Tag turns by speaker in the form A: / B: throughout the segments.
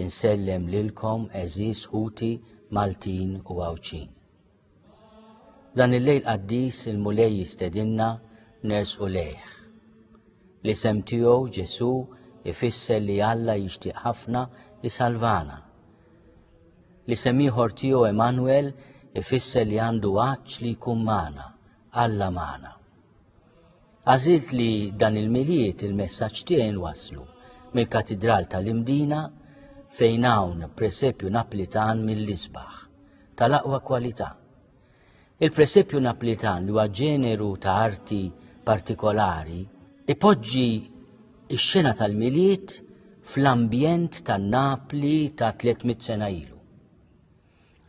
A: Insellem lilkom eżiż ħuti Maltin u Għawdxin. Dan il-lejl qaddis il-Mulej jistedinna nersqu lejh. L-isem tiegħu Ġesu ifisser li Alla jixtieq ħafna isalvana. L-isem ieħor tiegħu Emanuel ifisser li għandu għaġġ li jkun magħna, Alla magħna. Għażilt li dan il-miliet il-messaġġ tiegħi waslu mill-Katidral tal-Imdina fejn hawn presepju Naplitan mill-isbaħ tal-aqwa kwalità. Il-presepju Naplitan li huwa ġeneru ta' arti partikolari ipoġġi x-xena tal-miliet fl-ambjent tan-Napli ta' 300 sena ilu.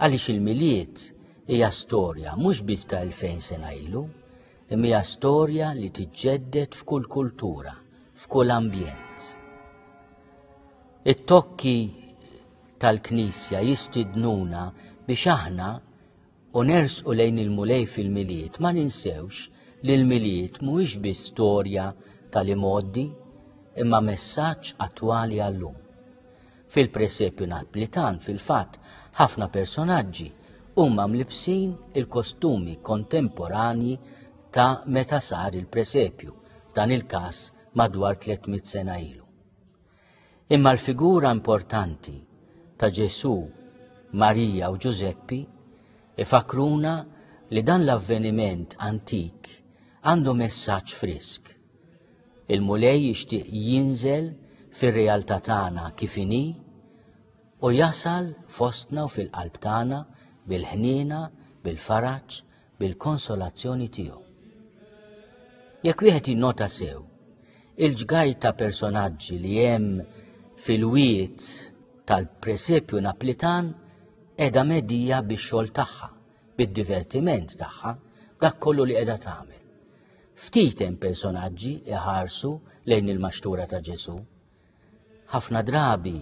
A: Għaliex il-Milied hija storja mhux biss ta' 2000 sena ilu, imma hija storja li tiġġedded f'kull kultura, f'kull ambjent. It-tokki tal-Knisja jistidnuna biex aħna u nersqu lejn il-Mulej fil-Milied ma ninsewx li l-Milied mhuwiex biss storja tal-imoddi imma messaġġ attwali għallum. Fil-presepju Naplitan fil-fatt ħafna personaġġi huma mlibsin il-kostumi kontemporanji ta' meta sar il-presepju, f'dan il-każ madwar 300 sena ilu. Imma l-figura importanti ta' Ġesu, Marija u Ġużeppi ifakruna li dan l-avveniment antik għandu messaġġ frisk. Il-Mulej jixtieq jinżel fir-realtà tagħna kif inhi u jasal fostna u fil-qalb tagħna bil-ħniena, bil-faraġ, bil-konsolazzjoni tiegħu. Jekk wieħed jinnota sew, il-ġgaj ta' personaġġi li hemm fil-wiet tal-presepju naplitan edha medija bix-xogħol tagħha, bid-divertiment tagħha, dak kollu li qiegħda tagħmel. Ftit hemm personaġġi iħarsu lejn il-maxtura ta' Ġesù. Ħafna drabi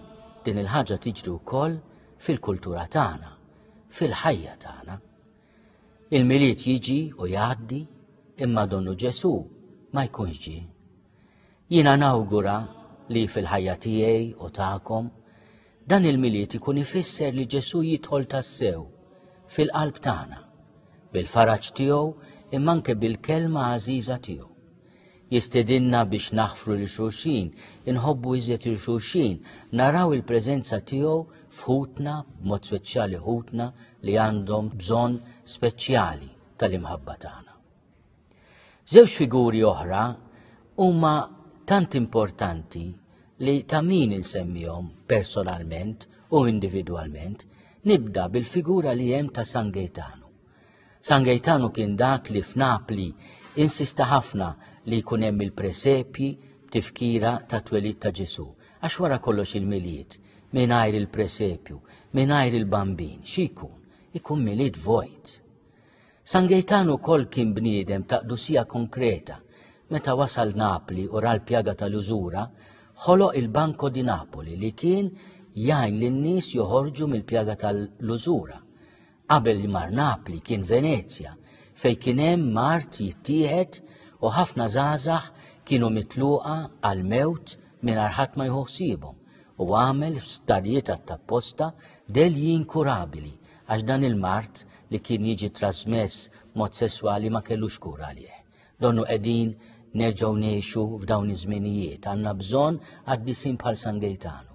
A: din il-ħaġa tiġri wkoll fil-kultura tagħna, fil-ħajja tagħna. Il-milied jiġi u jgħaddi imma donnu Ġesu ma jkunx ġi. Jiena nawgura li fil-ħajja tiegħi u tagħkom Dan il-Milied ikun ifisser li Ġesù jidħol tassew fil-qalb tagħna, bil-faraġ tiegħu imma anke bil-kelma għażiża tiegħu. Jistedinna biex naħfru li xulxin, inħobbu iżjed il xulxin, naraw il-preżenza tiegħu f'ħutna, b'mod speċjali ħutna li għandhom bżonn speċjali tal-imħabba tagħna. Żewġ figuri oħra huma tant importanti li ta' min insemmihom personalment u individwalment, nibda bil-figura li hemm ta' San Gaetanu. San Gaetanu kien dak li f'Napli insista ħafna li jkun hemm il-presepji tifkira ta' twelid ta' Ġesu, għax wara kollox il-milied, mingħajr il-presepju, mingħajr il-bambin, xi jkun? Ikun milied vojt. San Gejtan ukoll kien bniedem ta' qdusija konkreta. Meta wasal Napli u ra l-pjaga tal-użura, ħoloq il-Banco di Napoli li kien jgħin lin-nies joħorġu mill-pjaga tal-użura. Qabel li mar Napli kien Venezja, fejn kien hemm mart jittieħed u ħafna żgħażagħ kienu mitluqa għall-mewt mingħajr ħadd ma jħu ħsiebhom u għamel f'sptarijiet għat-tapposta delji inkurabili Għax dan il-mard li kien jiġi trasmess mod sesswali ma kellux kura għalih. Donnu qegħdin nerġgħu ngħixu f'dawn iż-żminijiet għandna bżonn qaddisin bħal San Gejtanu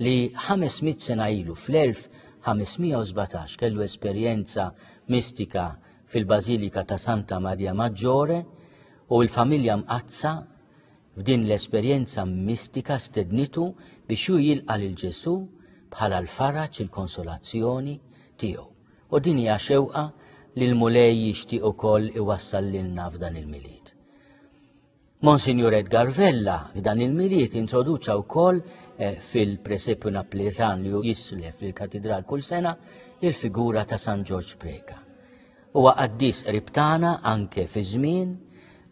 A: li 500 sena ilu fl-1517 kellu esperjenza mistika fil-Bażilika ta' Santa Maria Maggiore u l-familja mqazza F'din l-esperjenza mistika stednitu biex hu jilqa' lil Ġesù bħala l-faraġ il-konsolazzjoni tiegħu. U din hija xewqa li l-Mulej jixtieq ukoll iwassal lilna f'dan il-Milied. Monsignor Edgar Vella f'dan il-Milied introduċa wkoll eh, fil-Presepju Naplitan li jislef lill-Katidral kull sena il-figura ta' San Ġorġ Preka. Huwa qaddis qrib tagħna anke fi żmien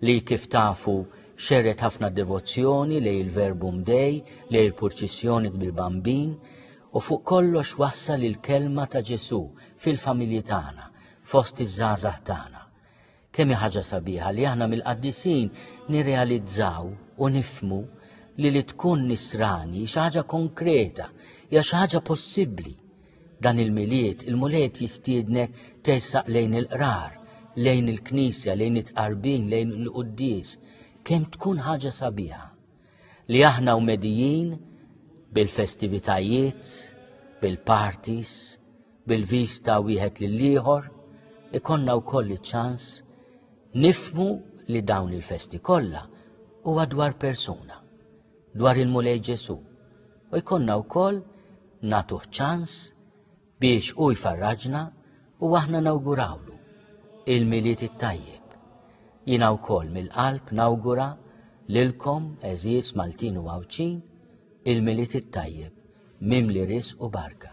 A: li kif tafu xerret ħafna devozzjoni lej il-Verbu Mdej, lej il-purċissjoni bil-Bambin, u fuq kollox wassal il-kelma ta' Ġesu fil-familji tagħna, fost iż-żgħażagħ tagħna. Kemm ħaġa sabiħa li aħna mill-qaddisin nirrealizzaw u nifmu li li tkun nisrani xi ħaġa konkreta, hija xi ħaġa possibbli. Dan il-Milied, il-Mulej qed jistiednek tersaq lejn il-qrar, lejn il-knisja, lejn it-tqarbin, lejn il-quddis, kemm tkun ħaġa sabiħa. Li aħna u medijin bil-festivitajiet, bil-parties, bil-vista wieħed lill-ieħor, ikonna wkoll iċ-ċans nifmu li dawn il-festi kollha huwa dwar persuna. dwar il-Mulej Ġesù u jkollna wkoll nagħtuh ċans biex hu jfarraġna u aħna nawgurawlu il-Milied it-Tajjeb. Jiena wkoll mill-qalb nawgura lilkom eżiż Maltin u Għawdxin il-Milied it-Tajjeb mimli risq u barka.